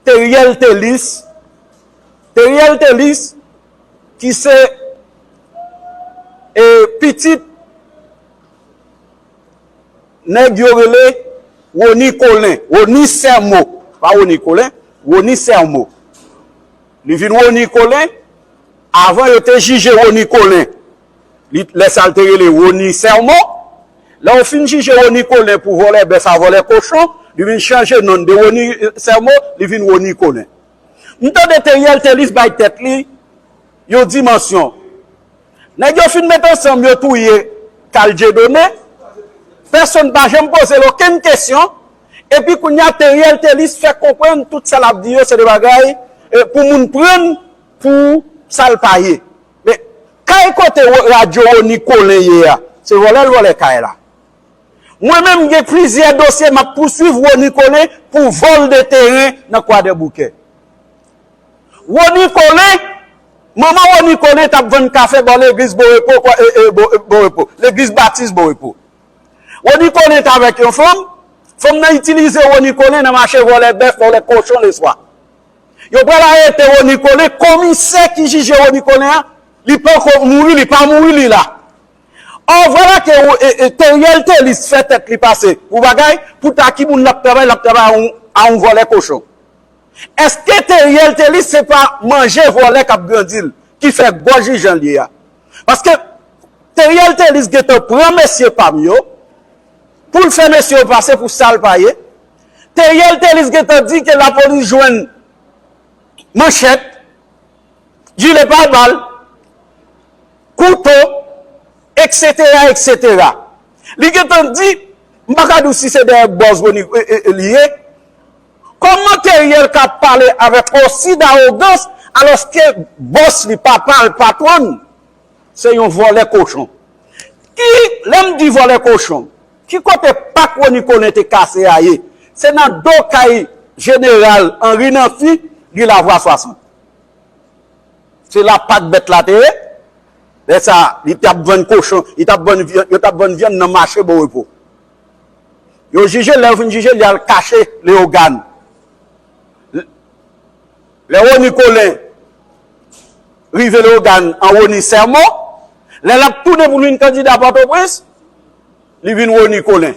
Theriel Thelus Theriel Thelus ki se e pitit nèg yo rele Rony Colin, Rony Sermo pa Rony Colin, Rony Sermo li vin Rony Colin avan yo te jije Rony Colin Lè sa l te rele Rony Sermon. Lè yo fin jije Rony Colin pou vòlè bèf a vòlè kochon, li vin chanje non l de Rony Sermon, li vin Rony Colin. M tande Theriel Thelus bay tèt li yon dimansyon. Nèg yo fin met ansanm yo touye Carl Dieudonné, pèsonn pa janm poze l okenn kesyon, epi kounye a Theriel Thelus fè konprann tout sa l ap di yo se de bagay pou moun pran pou sa l pa ye. Men kay kote radyo Rony Colin ye a, se vòlè l vòlè kay la. Mwen menm m gen plizyè dosye m ap pouswiv Rony Colin pou vòl de teren nan Kwadèboukè. Rony Colin, manman Rony Colin t ap vann kafe bò legliz Bon Repo, Bon Repo, legliz Batis Bon Repo. Rony Colin t avèk yon fanm, fanm nan itilize Rony Colin nan mache vòlè bèf, vòlè kochon leswa. Yo pral arete Rony Colin, komisè ki jije Rony Colin an, li panko mouri, li pa mouri li la. Or vwala ke Theriel Thelus fè tèt li pase pou bagay, pou ta ki moun l ap travay, l ap travay a yon vòlè kochon. Eske Theriel Thelus se pa manje vòlè k ap grandi l, ki fè gòj li jan l ye a? Paske Theriel Thelus gentan pran mesye pa m yo, pou l fè mesye yo pase pou sa l pa ye, Theriel Thelus gentan di ke lapolis jwenn manchèt, jile pa bal, kouto, eksetera, eksetera. Li gentan di, m pa ka di w si se dèyè bòz Rony li ye, kòman Theriel ka pale avèk osi dawogans alòske bòs li, papa l, patwon l, se yon vòlè kochon. Ki, lè m di vòlè kochon. Ki kote pa kwonikolen te kase a ye? Se nan do kay jeneral Henri Namphy, ri Lavwa 60. Se la pak bèt la te ye. Lè sa a, li t ap vann kochon, li t ap vann vyann, yo t ap vann vyann nan mache Bon Repo. Yo jije l, lè yo fin jije l, y al kache Leyogàn. Lè Rony Colin rive Leyogàn an Rony sèmon, lè l ap tounen pou l vin kandida Pòtoprens, Li vin Rony Colin.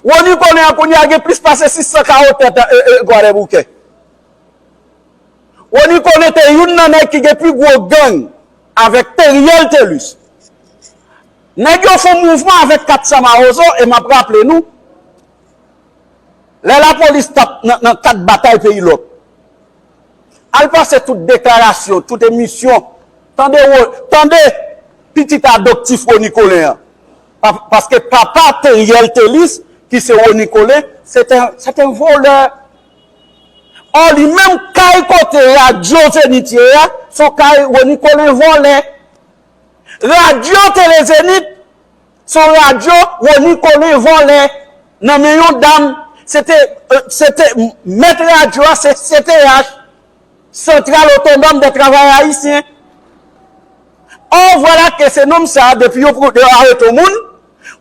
Rony Colin an kounye a gen plis pase 600 ka otè tan Kwadèboukè. Rony Colin te youn nan nèg ki gen pi gwo gang avèk Theriel Thelus. Nèg yo fon mouvman avèk 400 mawozo e m ap raple nou, lè lapolis t ap nan kat batay peyi lòk, Al pase tout deklarasyon, tout emisyon, tande wo, tande pitit adoptif Rony Colin an. Paske papa Theriel Thelus ki se Rony Colin, c'est un, c'est un voleur. Or li menm kay kote radio Zenith ye a, son kay Rony Colin vòlè. Radio Tele Zenith, Se yon radyo Rony Colin vòlè nan men yon dam, se te, se te, mèt radyo a se CTH, Centrale Autonome des Travailleurs Haïtiens. Or voilà que se nonm sa a depi yo arete yon moun,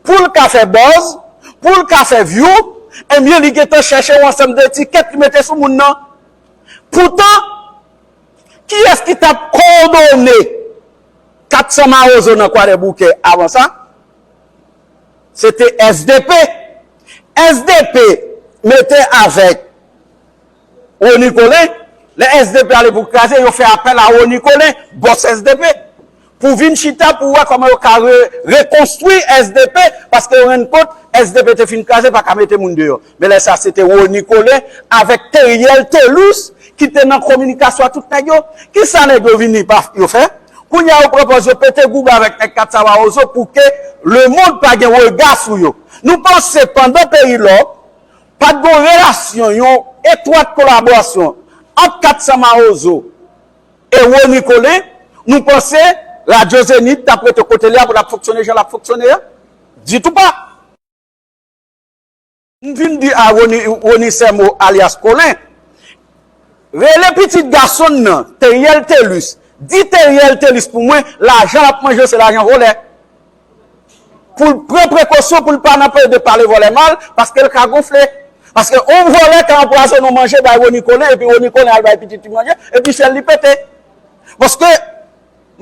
pou l ka fè buzz, pou l ka fè view, ebyen li gen tan chèche yon ansanm de etikèt li mete sou moun nan. Poutan, kiyès ki t ap kowòdone? 400 mawozo nan kwadèboukè avan sa se te sdp sdp mete avèk rony colin lè sdp ale pou kraze yo fè apèl a rony colin bòs sdp pou vin chita pou wè kòman yo ka rekonstwi sdp paske yo rann kont sdp te fin kraze paka mete moun deyò. Men lè sa se te Rony Colin avèk Theriel Thelus ki te nan kominikasyon ak tout nèg yo. Ki sa nèg yo vini pa yo fè? Kounye a yo pran pòz yo pete goug avèk nèg 4 sa Mawozo pou ke lemond pa gen rega sou yo. Nou panse pandan peyi lò pa t gon relasyon yon etwat kolaborasyon ant 4 sa Mawozo e Rony Colin, nou panse radyo Zenith t ap rete kote li a pou l ap fonksyone jan l ap fonksyone a? Ditou pa! M vin di a Rony Sermeau alyas Colin, rele pitit gason n nan Theriel Thelus, di Theriel Thelus pou mwen lajan l ap manje yo se lajan volè. Pou l pran prekosyon pou l pa nan pale de pale volè mal, paske l ka gonfle. Paske yon volè ka anpwazone yon manje bay Rony Colin epi Rony Colin al bay pitit li manje epi fyèl li pete. Paske,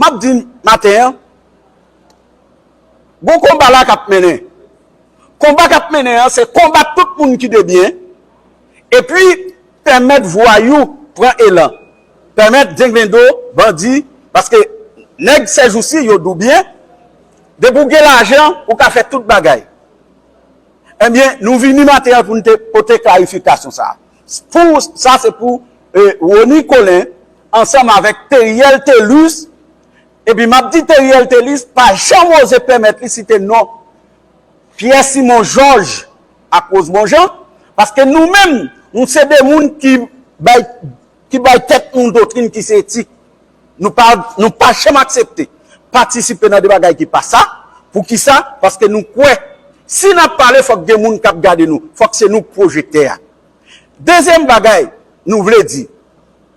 m ap di maten an, Gon konba la kap mennen. Konba kap mennen an se konbat tout moun ki debyen epi pèmèt vwayou pran elan, pèmèt denglendo, bandi, paske nèg sèjousi yo doubyen, depi ou gen lajan ou ka fè tout bagay. Ebyen nou vini maten an pou nou te pote klarifikasyon sa. Pou sa se pou Rony Colin ansanm avèk Theriel Thelus Epi map di Theriel Thelus pa janm oze pèmèt li site non Pierre Simon Georges ak Rosemond Jean paske nou menm nou se 2 moun ki bay ki bay tèt nou doktrin ki se etik nou pa nou pa janm aksepte patisipe nan de bagay ki pa sa poukisa paske nou kwè si nap pale fòk gen moun kap gade nou fòk se nou k pwojektè a dezyèm bagay nou vle di.